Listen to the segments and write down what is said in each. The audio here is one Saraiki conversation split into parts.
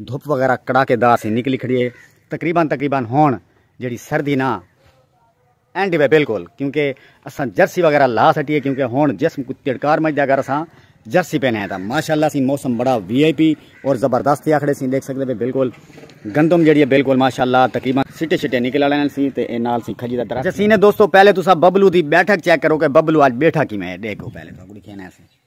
دھپ وغیرہ کڑاکے دار سی نکلی کھڑی ہے تقریبا تقریبا ہن جیڑی سردی نا اینڈ وے بالکل کیونکہ اساں جرسی وغیرہ لا سٹی ہے کیونکہ ہن جسم کو تڑکار مجھدا اگر اساں جرسی پہنے ہیں تاں ماشاءاللہ سی موسم بڑا وی آئی پی اور زبردست تھیا کھڑے سی دیکھ سکدے پے بالکل گندم جیڑی ہے بالکل ماشاءاللہ تقریبا سٹے سٹے نکل والے نال سی تے اے نال سی کھجی دا درخت جسینے دوستو پہلے تساں ببلو دی بیٹھک چیک کرو کہ ببلو اج بیٹھا کیویں ہے دیکھو پہلے تساں کو دکھینا ہے سی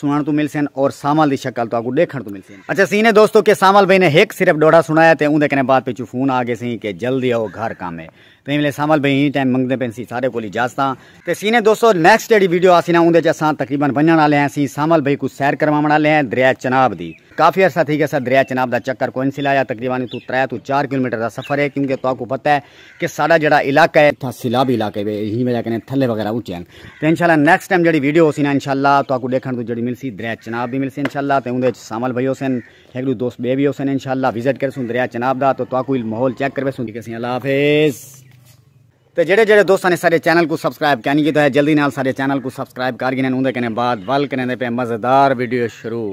سنڑن توں ملسن اور سانول دی شکل تہاکوں ڈیکھنڑ توں ملسی۔ اچھا سی نے دوستو کہ سانول بھئی نے ہک صرف ڈوہڑا سنڑایا تے اوندے کنے بعد پچھوں فون آ گیسی کہ جلدی آؤ گھر کم ہے۔ تیں ویلے سانول بھئی ایں ٹائم منگدے پین سی سارے کول اجازتاں۔ تے سی نے دوستو نیکسٹ جیڑھی ویڈیو آسی نا اوندے چ اساں تقریبا ونجنڑ آلے ہیں سی سانول بھئی کوں سیر کرواونڑ آلے ہیں دریا چناب دی۔ کافی عرصہ تھی گیسا دریا چناب دا چکر کوئن سی لایا تقریبا اتھوں ترے توں چار کلومیٹر دا سفر ہے کیونکہ تہاکوں پتہ ہے کہ ساڈا جیڑا علاقہ ہے تھا سیلابی علاقہ ہے ہی وجہ کنے تھلے وغیرہ اونچے ہیں تے انشاءاللہ نیکسٹ ٹائم جڑی ویڈیو ہوسی نا انشاءاللہ تو اکو ڈیکھن تو جڑی ملسی دریا چناب بھی ملسی انشاءاللہ تے اوندے وچ سامل بھائی ہوسن ایک دو دوست بے بھی ہوسن انشاءاللہ وزٹ کرسوں دریا چناب دا تو تو اکو ماحول چیک کر ویسوں دیکھسیں اللہ حافظ تے جڑے جڑے دوستاں نے سارے چینل کو سبسکرائب کینی کیتا ہے جلدی نال سارے چینل کو سبسکرائب کر گنے اوندے کنے بعد ول کنے دے پہ مزیدار ویڈیو شروع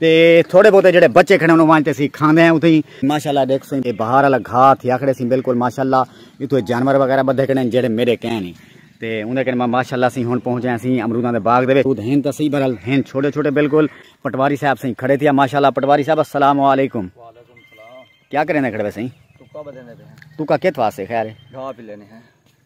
تے تھوڑے بہتے جڑے بچے کھڑے انہوں وانچتے سی کھاندے ہیں اتھے ہی ماشاءاللہ دیکھ سو یہ بہار والا گھا تھی آکھڑے سی بالکل ماشاءاللہ اتھے جانور وغیرہ بدھے کھڑے ہیں جڑے میرے کہیں نہیں تے انہیں کہنے ماشاءاللہ سی ہن پہنچے ہیں سی امروداں دے باغ دے خود ہیں تسی برحال ہیں چھوٹے چھوٹے بالکل پٹواری صاحب سی کھڑے تھیا ماشاءاللہ پٹواری صاحب السلام علیکم کیا کریں دے کھڑے ویسے ہیں تو کا کت واسے خیر ہے گھا پی لینے ہیں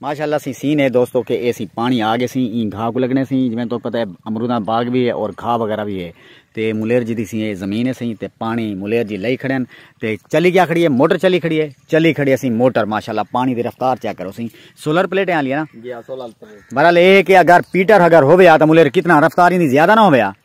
ماشاءاللہ سی سین ہے دوستو کہ اے سی پانی آ گئے سی این گھا کو لگنے سی جویں تو پتہ ہے امروداں باغ بھی ہے اور گھا وغیرہ بھی ہے تے ملیر جی دی سی اے زمین ہے سی تے پانی ملیر جی لئی کھڑے ہیں تے چلی گیا کھڑی ہے موٹر چلی کھڑی ہے چلی کھڑی ہے سی موٹر ماشاءاللہ پانی دی رفتار چیک کرو سی سولر پلیٹیں آ لیا نا جی ہاں سولر پلیٹ بہرحال اے کہ اگر پیٹر اگر ہویا تو ملیر کتنا رفتار ہی زیادہ نہ ہویا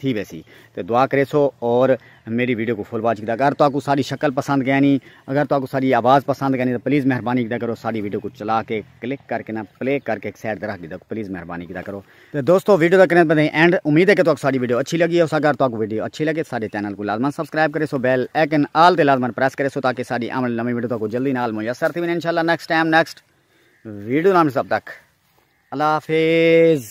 تھی ویسی تے دعا کریسو اور میڈی ویڈیو کو فل واچ کیتا اگر تہاکوں ساڈی شکل پسند گینی اگر تہاکوں ساڈی آواز پسند گینی تے پلیز مہربانی کیتا کرو ساڈی ویڈیو کوں چلا کے کلک کر کے نا پلے کر کے ایک سائیڈ تے رکھ ڈیتا پلیز مہربانی کیتا کرو تے دوستو ویڈیو دا کریں پتہ اینڈ امید ہے کہ تہاکوں ساڈی ویڈیو اچھی لگی ہوسا اگر تہاکوں ویڈیو اچھی لگے ساڈے چینل کوں لازما سبسکرائب کریسو بیل ایکن آل تے لازما پریس کریسو تاکہ ساڈی آون والی نویں ویڈیو تہاکوں جلدی نال میسر تھی ونجے انشاءاللہ نیکسٹ ٹائم نیکسٹ ویڈیو نال سب تک اللہ حافظ